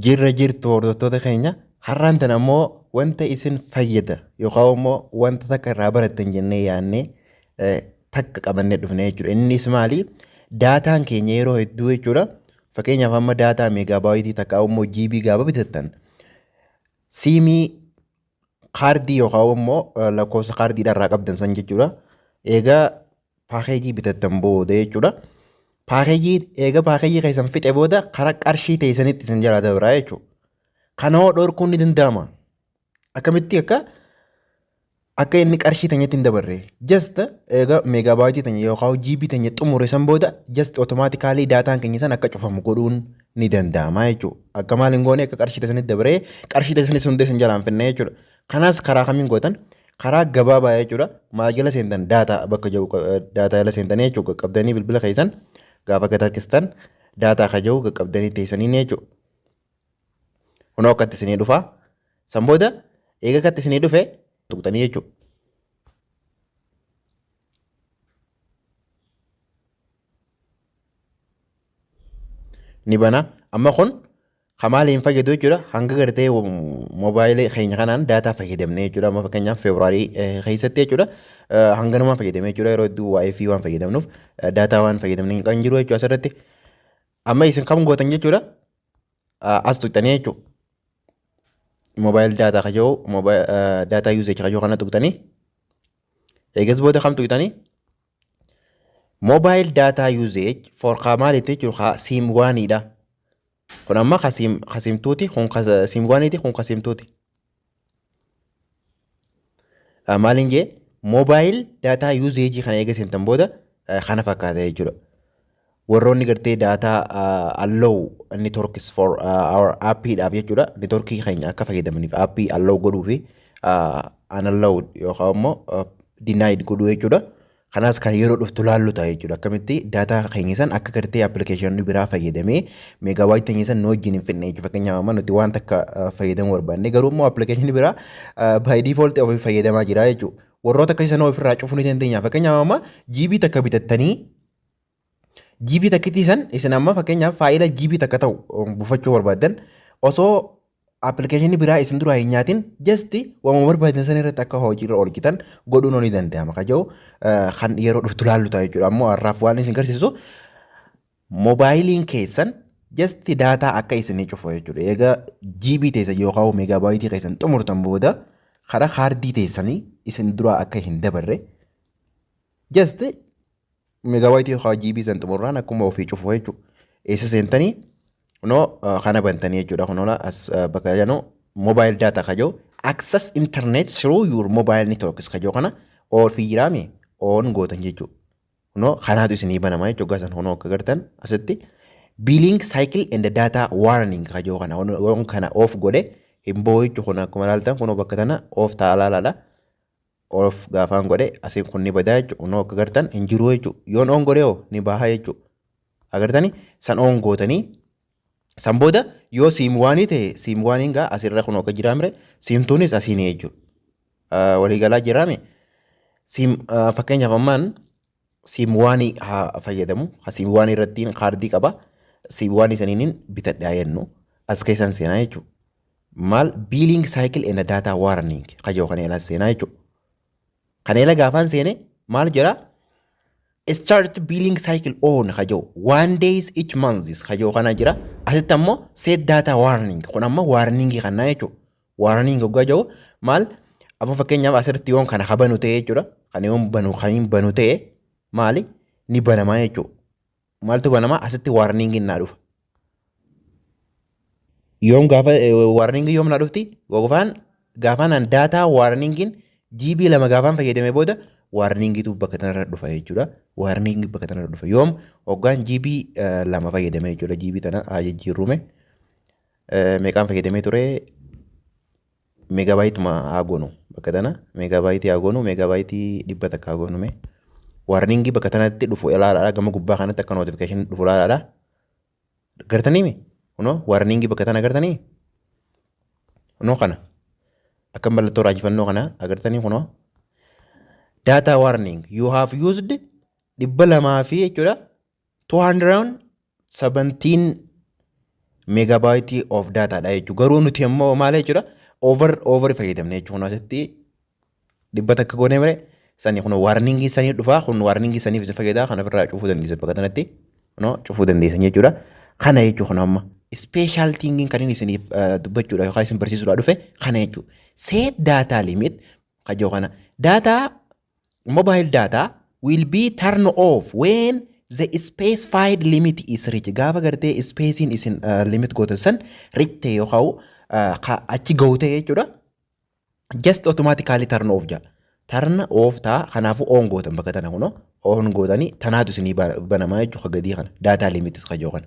Jirra jirtu hordoftoota keenya har'aan tan ammoo wanta isin fayyada yookaan immoo wanta takka irraa barattan jennee yaannee eh, takka qabannee dhufne jechuudha. Innis maali? Daataan keenya yeroo hedduu jechuudha. Fakkeenyaaf amma daataa meegaabaayitii takka immoo jiibii gaaba bitattan siimii kaardii yookaan immoo lakkoofsa kaardiidhaa irraa qabdan san jechuudha. Egaa paakeejii bitattan booda jechuudha. Paakeejii egaa paakeejii keessan fixe booda karaa qarshii teessanitti isin jalaa dabraa jechuudha. Kana hoo dhorkuun ni danda'ama. Akkamitti akka akka inni qarshii teenyatti hin dabarre. Just egaa meegaabaayitii teenya yookaan jiibii teenya xumure san booda just otomaatikaalii daataan keenya san akka cufamu godhuun ni danda'ama jechuudha. Akka maal hin goone akka qarshii keessanitti dabaree qarshii keessaniis hundee isin jalaan finna jechuudha. Kanas karaa kamiin gootan karaa gabaabaa jechuudha. Maal jala seentan daataa bakka jiru daataa jala seentan jechuudha. Qaqqabdanii bilbila keessan gaafa gad harkistan daataa kan jiru qaqqabdanii teessanii jechuudha. Kunoo akkatti isinii dhufaa. San booda eega akkatti isinii dhufe tuqxanii jechuudha. ni bana amma kun kan maali hin fayyadu jechuudha hanga gartee moobaayilii keenya kanaan daataa fayyadamne jechuudha amma fakkeenyaaf feebruaarii keessatti jechuudha hanganumaan fayyadamne jechuudha yeroo hedduu waa'ee fi waan fayyadamnuuf daataa waan fayyadamne kan jiru jechuudha asirratti amma isin kam gootan jechuudha as tuqxanii jechuudha moobaayil daataa kajoo daataa yuuzeechi kajoo kana tuqxanii eegas booda kam tuqxanii Mobile data usage for ka maalitti jechuun ka siim waaniidha. Kun amma ka siim ka siimtuuti kun ka siim waaniiti kun ka siimtuuti. Ah, Maaliin jee mobile data usage kana eega seentan booda eh, kana fakkaata jechuudha. warroonni gartee data uh, allow networks for uh, our app dhaaf jechuudha networkii keenya akka fayyadamaniif app allow godhuu fi uh, unallowed yookaan immoo uh, denied godhuu jechuudha kanaas kan yeroo dhuftu laallu ta'a jechuudha akkamitti data keenya san akka gartee appilikeeshinii biraa fayyadamee meegaabaayit keenya san nu wajjin hin fidne jechuudha fakkeenyaaf amma nuti waan takka uh, fayyadamuu barbaanne garuu immoo appilikeeshinii biraa uh, by default ofii fayyadamaa jira jechuudha warroota akkasii sana ofirraa cufuu ni dandeenya fakkeenyaaf amma jiibii takka bitattanii GB takkitii san isin amma fakkeenyaaf faayila GB takka ta'u um, buufachuu barbaaddan osoo appilikeeshinii biraa isin duraa hin nyaatin jasti waamuu barbaadan san irratti akka hojiirra oolchitan godhuun ni danda'ama ka jedhu eh, kan yeroo dhuftu laallu ta'a jechuudha ammoo har'aaf waan isin garsiisu moobaayiliin keessan jasti daataa akka isinii cufu jechuudha egaa GB teessan yookaan meegaabaayitii keessan xumurtan booda karaa kaardii teessanii isin duraa akka hin dabarre jasti Megabyte yookaan GB san xumurraan akkuma ofii cufu jechuudha. Eessa seentanii kunoo ah, kana bantanii jechuudha kunola as ah, bakka jedhu mobile data kajoo access internet through your mobile networks kajoo kana all fi jiraame on gootan jechuudha. Kunoo kanaatu isinii banama jechuudha gasan kunoo akka gartan asitti billing cycle and data warning kajoo kana on- on kana off godhe hin boo'ichu kun akkuma ilaaltan kunoo bakka tana off ta'a laalaadha. off gaafaan godhe asiin kun ni badaa jechuudha unoo akka gartan hin jiruu jechuudha yoon oon godhe hoo ni bahaa jechuudha agartani san oon gootanii san booda yoo siim waanii ta'e siim waaniin gaa asirra kun akka jiraa mire siimtuunis asiin jechuudha waliigalaa jiraame siim fakkeenyaaf ammaan Siimwaanii haa fayyadamu. Ha siimwaanii irrattiin kaardii qaba. Siimwaanii saniinin bitadhaa jennu. As keessan seenaa jechuudha. Maal biiliing saayikil ena daataa waaraniing kajoo kan eelaas seenaa jechuudha. Kan eela gaafaan seene maal jedha? Start billing cycle on kajoo one days each months kajoo kana jira. Asitti ammoo set data warning kun ammoo warning kanaa jechuudha. Warning hoggaa jedhu maal amma fakkeenyaaf asirratti yoon kana habanu ta'e jechuudha. Kana yoon banu kan hin banu ta'e maali ni banamaa jechuudha. Maaltu banamaa asitti warning naa dhufa. Yoom gaafa warning yoom naa dhufti gofaan gaafaan an daataa warningin GB lama gaafaan fayyadame booda warningitu bakka kanarra dhufa jechuudha. Warning bakka kanarra dhufa yoom hoggaan GB lama fayyadame jechuudha. GB tana haa jijjiirrume. meeqaan fayyadamee ture meegaabaayiituma haa goonu bakka tana meegaabaayiitii haa goonu meegaabaayiitii dhibba takka haa goonu mee waarningii bakka tanatti dhufu ilaalaadha gama gubbaa kanatti akka notification dhufu ilaalaadha gartaniimi kunoo waarningii bakka tana gartanii kunoo kana akka mallattoo raajifannoo kana agartanii kunoo data warning you have used dhibba lamaa fi jechuudha 217 megabyte of data dha jechuudha. Garuu nuti immoo maal jechuudha over over fayyadamne jechuudha. Kun asitti dhibba takka goone mire sani kun warning sanii dhufa kun warning saniif isin fayyada kan ofirraa cufuu dandeessan bakka kanatti no cufuu dandeessan jechuudha. Kana jechuudha kun amma special thing kan inni isiniif dubbachuudha yookaan isin barsiisuudha dhufe kana jechuudha. Set data limit kajoo kana data Mobile data will be turn off when the specified limit is reached. Gaafa gartee ispeesiin isin limit gootan san reach ta'e yookaan uh, ka achi gahu ta'e jechuudha. Just automatically turn off jaa. Turn off taa kanaafuu on gootan bakka tana kunoo on gootanii tanaatu isinii ba- banamaa jechuudha gadii kana data limit kajoo kana.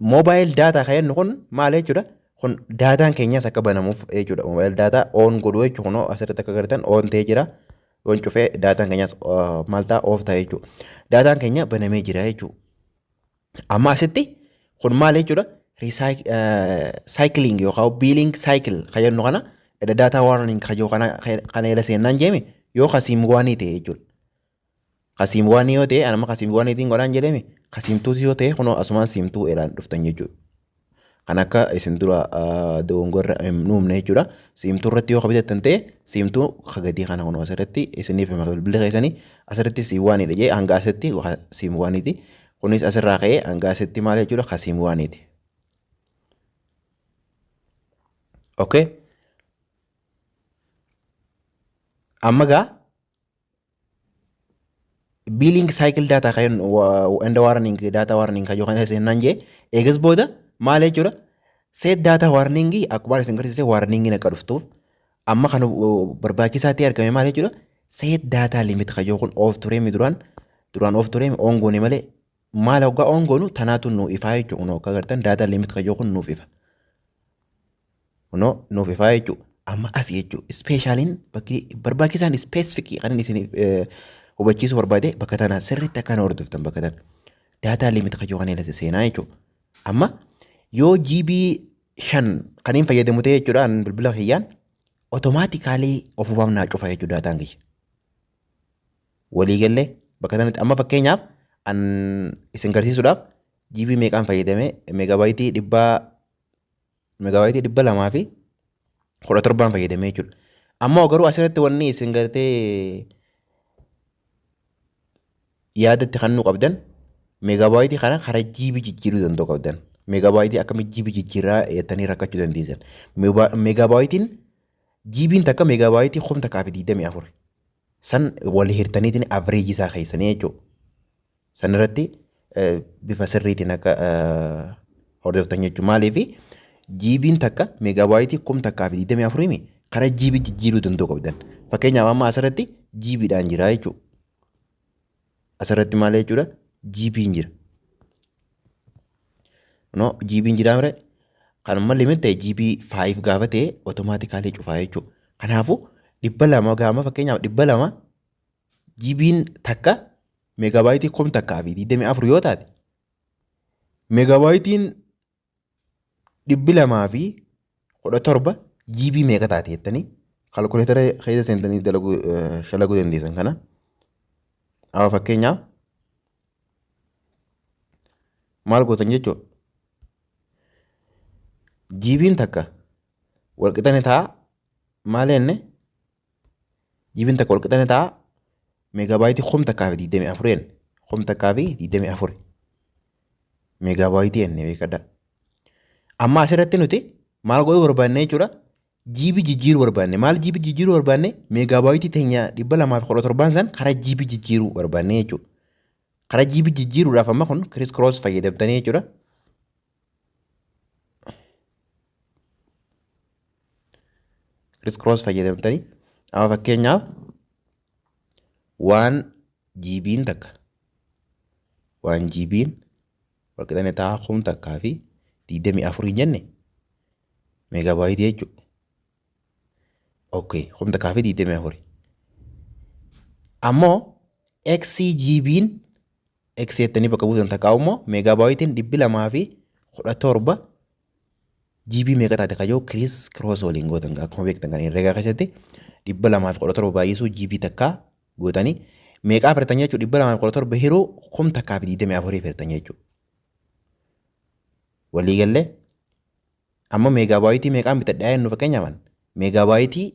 Mobile data kan jennu kun maal jechuudha? Kun daataan keenyas akka banamuuf jechuudha. Mobile data on godhu jechuudha. Kunoo asirratti akka agartan on ta'ee jira. Yoon cufee daataan keenyas uh, maal ta'a off ta'a jechuudha. Daataan keenya banamee jira jechuudha. Amma asitti kun maal jechuudha? Recycling yookaan billing cycle kan jennu kana data warning kan jiru kana kana jala seennaan jeemi yoo kasiim waanii ta'e jechuudha. Kasiim waanii yoo ta'e anama kasiim waaniitiin godhaan jedhame kasiimtuus yoo ta'e kunoo asumaan siimtuu elaan dhuftan jechuudha. Kan akka isin dura dogongorra nuumne jechuudha. Siimtuu irratti yoo kabitattan ta'e siimtuu kagadii kana kunoo asirratti isiniif hima bilbila keessanii asirratti siim waaniidha jee hanga asitti siim waaniiti. Kunis asirraa ka'ee hanga asitti maal jechuudha kasiim waaniiti. Okay. Amma gaa biiliing saayikil daataa kan enda waarniing daataa waarniing kan yookaan seenaan jee eegas booda maal jechuudha seet daataa waarniingii akkuma isin garsiise waarniingiin akka dhuftuuf amma kan barbaachisaa ta'e argame maal jechuudha seet daataa limit kan yookaan oof turee mi duraan duraan oof turee mi oongoone malee maal hoggaa oongoonu tanaatu nuu ifaa jechuudha kun hoggaa gartan daataa limit kan yookaan nuuf ifa. Kunoo nuuf ifaa jechuu amma asi jechuu ispeeshaaliin bakki barbaachisaan ispeesifikii kan inni isin hubachiisuu barbaade bakka tana sirriitti akka na hordoftan bakka tana daataa liimit kajoo kan ilaalate seenaa jechuu amma yoo GB shan kan hin fayyadamu ta'e jechuudha an bilbila kiyyaan otomaatikaalii ofumaaf naa cufa jechuu daataan kiyya walii gallee bakka tanatti amma fakkeenyaaf an isin garsiisuudhaaf GB meeqaan fayyadame meegabaayitii dhibbaa Megaawaayitii dhibba lamaa fi kudha torbaan fayyadamee jechuudha. Ammoo garuu asirratti wanni isin gartee yaadatti kannuu qabdan megaabaayitii kana karaa jiibi jijjiiruu danda'u qabdan. Megaabaayitii akkamitti jiibi jijjiiraa jettanii rakkachuu dandeessan. Megaabaayitiin jiibiin takka megaabaayitii kum takkaa fi digdamii afur. San wal hirtaniitiin average isaa keessanii jechuudha. San irratti bifa sirriitiin akka hordoftan jechuudha. Maaliif jiibiin takka meegaabaayitii kum takkaa fi digdamii afuriimi karaa jiibii jijjiiruu danda'u qabdan. Fakkeenyaaf amma asirratti jiibiidhaan jira jechuudha. Asirratti maal jechuudha? GP'n jira. No, GP'n jira mire. Kanuma limit ta'e GP 5 gaafa ta'e otomaatikaalii cufaa jechuudha. Kanaafuu dhibba lama gaama fakkeenyaaf dhibba lama GP'n takka meegaabaayitii kum takkaa fi 24 yoo taate meegaabaayitiin dhibbi lamaa fi kudha torba GB meeqa taati jettanii kalkuleetara keessa seentanii dalaguu eh, shalaguu dandeessan kana. Amma fakkeenyaaf maal gootan jechuudha. GB'n takka walqixani ta'a maal jenne Jibiin takka wal qixxanne ta'a meegaabaayitii kum takkaa fi digdamii afur jenne. Kum takkaa fi digdamii afur meegaabaayitii jenne beekadha. Amma asirratti nuti maal godhuu barbaanne jechuudha. Jiibii jijjiiruu barbaanne. Maal jiibii jijjiiruu barbaanne? Meegaabaayitii teenya dhibba lamaa fi kudha torbaan san karaa jiibii jijjiiruu barbaanne jechuudha. Karaa jiibii jijjiiruudhaaf amma kun kiriis kiroos fayyadamtanii jechuudha. kiriis kiroos fayyadamtanii amma fakkeenyaaf waan jiibiin takka waan jiibiin waqixane ta'a kum takkaa fi digdamii afur hin jenne meegaabaayitii jechuudha. Okay, kum takkaa fi digdamii afur. Ammoo XGB'n X jettanii bakka buutan takkaa immoo meegaabaayitiin dhibbi lamaa fi kudha torba GB meeqa taate kajoo kiriis kiroos waliin gootan gaa akkuma beektan kan herregaa keessatti dhibba lamaa fi kudha torba baay'isuu GB takkaa gootanii meeqaa firtan jechuu dhibba lamaa fi kudha torba hiruu kum takkaa fi digdamii afurii firtan jechuu. Waliigallee amma meegaabaayitii meeqaan bitadhaa jennu fakkeenyaaf meegaabaayitii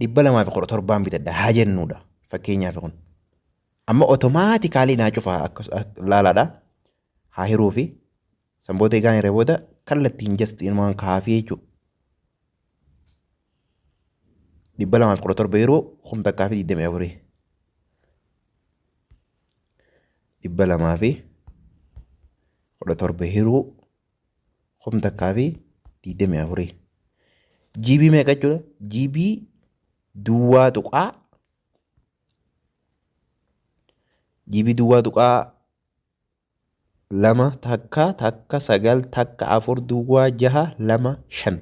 dhibba lamaa fi kudha torbaan bitadha haa jennuudha fakkeenyaaf kun amma otomaatikaalii naa cufaa akka laalaadha haa hiruu fi san booda egaan irra booda kallattiin just inumaan kaafii jechuudha. dhibba lamaa fi kudha torba yeroo kum takkaa fi digdamii afurii dhibba lamaa fi kudha torba hiruu kum takkaa fi digdamii afurii. GB meeqa jechuudha? GB duwwaa tuqaa GB duwwaa tuqaa lama takka takka sagal takka afur duwwaa jaha lama shan.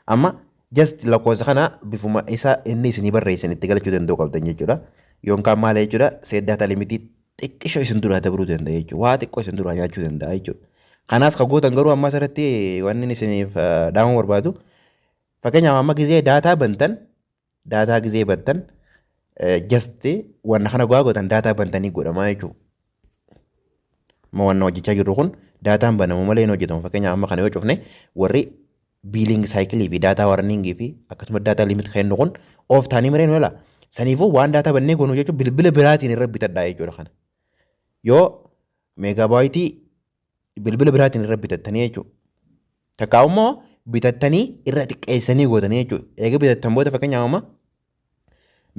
Amma just lakkoofsa kana bifuma isa inni isinii barreessan itti galchuu danda'uu qabdan jechuudha. Yoonkaan maal jechuudha? Seeddaata limitii xiqqisho isin duraa dabruu danda'a jechuudha. Waa xiqqoo isin duraa nyaachuu danda'a jechuudha. Kanaas kan gootan garuu ammas irratti wanni inni isiniif eh, dhaamuu barbaadu fakkeenyaaf amma gizee daataa bantan daataa gizee bantan just wanna kana gogaa gootan daataa bantanii godhamaa jechuudha. Amma wanna hojjechaa jirru kun daataan banamu malee hin hojjetamu fakkeenyaaf amma kana yoo cufne warri Biiliingi saayikilii fi daataa warniingii fi akkasumas daataa limit kennu kun of taanii maree nu ilaa. Saniifuu waan daataa bannee goonu jechuun bilbila biraatiin irra bitadhaa jechuudha kana. Yoo meegaabaayitii bilbila biraatiin irra bitattanii jechuudha. Takkaa immoo bitattanii irra xiqqeessanii gootanii jechuudha. Eega bitattan booda fakkeenyaaf amma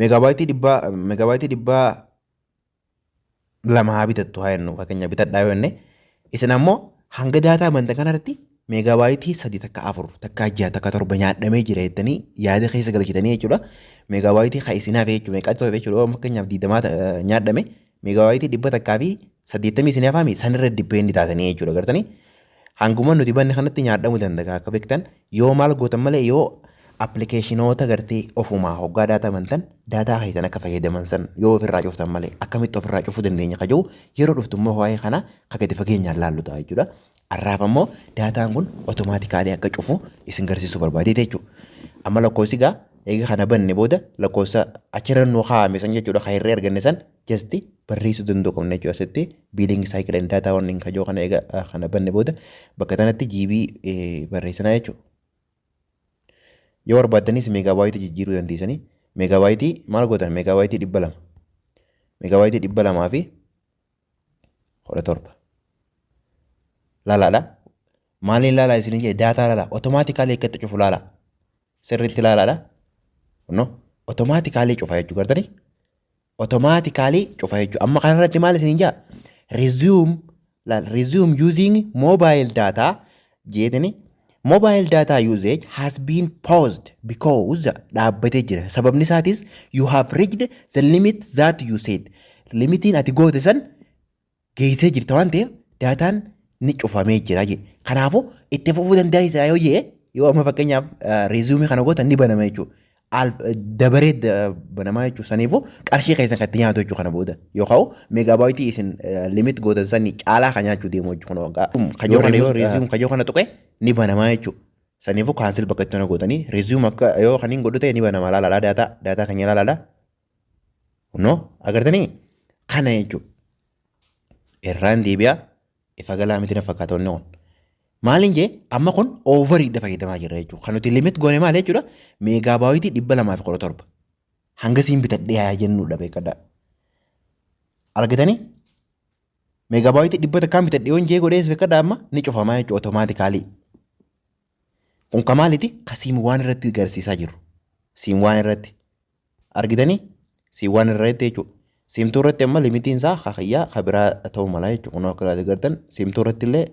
meegaabaayitii dhibbaa meegaabaayitii dhibbaa lama haa bitattu haa jennu fakkeenya bitadhaa yoo jenne isin ammoo hanga daataa banta kanarratti meegaabaayitii sadi takka afur takka jaha takka torba nyaadhamee jira jettanii yaada keessa galchitanii jechuudha meegaabaayitii ka isin hafe jechuudha meeqaa ta'e jechuudha fakkeenyaaf digdamaa nyaadhame meegaabaayitii dhibba takkaa fi saddeettamii isin hafaami sanirra dippeendi taatanii jechuudha gartanii Hanguma nuti banne kanatti nyaadhamu dandaga akka bektan yoo maal gootan malee yoo appilikeeshinoota gartee ofumaa hoggaa daataa bantan daataa keessan akka fayyadaman san yoo ofirraa cuftan malee akkamitti ofirraa cufuu dandeenya ka jiru yeroo dhuftu immoo waa'ee kana ka gadi fageenyaan laallu ta'a jechuudha. Har'aaf ammoo daataan kun otomaatikaalii akka cufu isin garsiisuu barbaadeeti jechuudha. Amma lakkoofsi gaa eega kana banne booda lakkoofsa achirra nu kaa'ame san jechuudha ka hirree arganne san just barreessuu danda'u qabna jechuudha asitti billing cycle and data warning kajoo kana eega kana banne booda bakka tanatti GB barreessinaa jechuudha. Yoo barbaaddanis meegaabaayitii jijjiiruu dandeessanii meegaabaayitii maal gootan meegaabaayitii dhibba lama meegaabaayitii dhibba lamaa fi kudha torba laalaadha maaliin laalaa isin jedhe daataa laalaa otomaatikaalii akkatti cufu laalaa sirriitti laalaadha no otomaatikaalii cufa jechuu gartanii automatically cufa jechuudha. Amma kanarratti maal isin jaa? Resume laal resume using mobile data jeetini mobile data usage has been paused because dhaabbatee jira. Sababni isaatis you have reached the limit that you said. Limitiin ati goote san geessee jirta waan ta'eef daataan ni cufamee jira jee. Kanaafuu itti fufuu dandeessaa yoo jee yoo amma fakkeenyaaf reeziyuumii kana gootan ni banama jechuudha. dabaree banamaa jechuudha. Saniifuu qarshii keessan kan itti nyaatu jechuudha kana booda. Yoo ka'u meegaabaayitii isin limit gootan sanii caalaa kan nyaachuu deemu jechuudha. Kun waggaa kajoo kana yoo reeziyuum kajoo kana tuqe ni banamaa jechuudha. Saniifuu kaansil bakka itti hona gootanii reeziyuum akka yoo kan hin godhu ta'e ni banama laalaadha daataa daataa kan ilaaladha. Kunoo agartanii kana jechuudha. Irraan deebi'aa ifa galaa miti na fakkaata wanni kun. Maaliin jee amma kun oovariidha fayyadamaa jirra jechuudha. Kan nuti limit goone maal jechuudha meegaabaayitii dhibba lamaa fi kudha torba. Hanga siin bitadhee haa jennuudha beekadhaa. Argitanii meegaabaayitii dhibba takkaan bitadhee yoon jee godhees beekadhaa amma ni cufamaa jechuudha otomaatikaalii. Kun ka maaliti ka siin waan irratti garsiisaa jiru. Siin waan irratti Argitanii? Siin waan irra jettee jechuudha. Siimtuu irratti amma limitiin isaa ka kiyyaa ka biraa ta'uu mala jechuudha. Kunoo akka kaasee gartan siimtuu irratti illee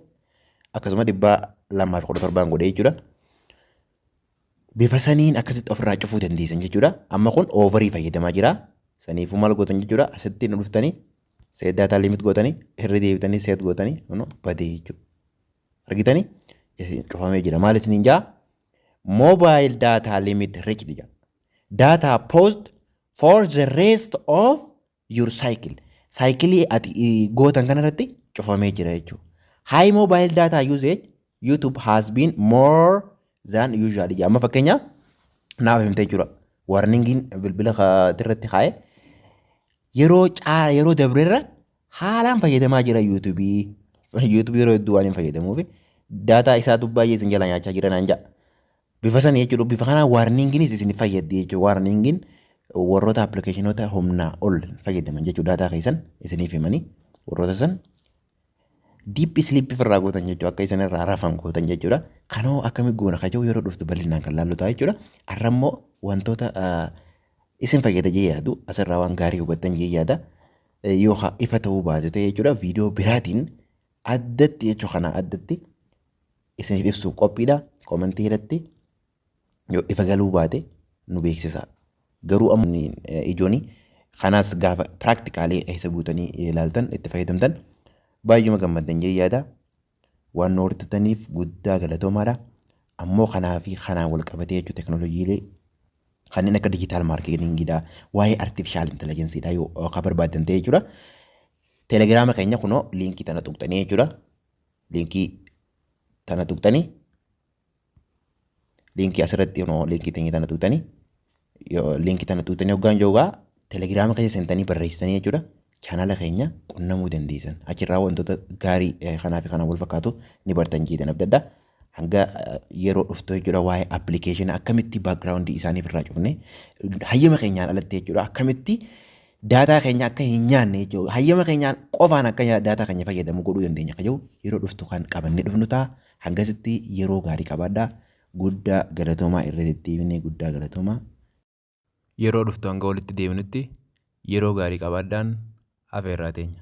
akkasuma dhibbaa lamaa fi kudha torbaan godhee jechuudha. Bifa saniin akkasitti ofirraa cufuu dandeessan jechuudha. Amma kun oovarii fayyadamaa jira. Saniifuu maal gootan jechuudha. Asitti nu dhuftanii seet daataa limit gootanii irra deebitanii seet gootanii kunoo badee jechuudha. Argitanii? Isin cufamee jira. Maal isiniin jaa? Moobaayil daataa limit riichdi jaa. Data post for the rest of your cycle. Saayikilii ati gootan kanarratti cufamee jira jechuudha. High mobile data usage YouTube has been more than usual. Amma fakkeenyaaf naaf himtee jira. Warningiin bilbila irratti kaa'e yeroo caa yeroo dabrerra haalaan fayyadamaa jira YouTube. YouTube yeroo hedduu waan hin fayyadamuuf daataa isaatu baay'ee isin jala nyaachaa jira naan ja'a. Bifa sana jechuudha. Bifa kanaan waarniingiinis isin fayyaddi jechuudha. Waarniingiin warroota appilikeeshinoota humnaa ol fayyadaman jechuudha. Daataa keessan isiniif himanii warroota san diip isliip irraa gootan jechuudha. Akka isin irraa rafan gootan jechuudha. Kanoo akkami goona kajoo yeroo dhuftu bal'inaan kan laallu ta'a jechuudha. Har'a immoo wantoota isin fayyada jee yaadu asirraa waan gaarii hubattan jee yaada. Yookaan ifa ta'uu baate ta'e jechuudha. Viidiyoo biraatiin addatti jechuu kanaa addatti isiniif ibsuuf qophiidha. Komentii irratti yoo ifa galuu baate nu beeksisaa. Garuu amma ijooni kanaas gaafa piraaktikaalii keessa guutanii ilaaltan itti fayyadamtan baay'eema gammaddan jee yaada. Waan nu hordotaniif guddaa galatoomaadha. Ammoo kanaa fi kanaan wal qabatee jechuu teknooloojiilee kanneen akka dijitaal maarkeetingiidha, waa'ee artifishaal intelijensiidha yoo ka barbaadan ta'e jechuudha. Telegiraama keenya kunoo liinkii tana tuqxanii jechuudha. Liinkii tana tuqxanii liinkii asirratti kunoo liinkii teenya tana tuqxanii liinkii tana tuqxanii hoggaan joogaa telegiraama keessa seentanii barreessitanii jechuudha. Chaanaala keenya qunnamuu dandeessan. Achirraa wantoota gaarii kanaa fi kanaan wal fakkaatu ni bartan jeetan abdadha. hanga yeroo dhuftu jechuudha waa'ee appilikeeshina akkamitti baakgiraawundii isaaniif irraa cufne hayyama keenyaan alatti jechuudha akkamitti daataa keenya akka hin nyaanne jechuudha hayyama keenyaan qofaan akka nya- daataa keenya fayyadamu godhuu dandeenya akka jiru yeroo dhuftu kan qabannee dhufnu ta'a hangasitti yeroo gaarii qabaadha guddaa galatoomaa irra deddeebinee guddaa galatoomaa yeroo dhuftu hanga walitti deebinutti yeroo gaarii qabaadhaan afeerraa teenya.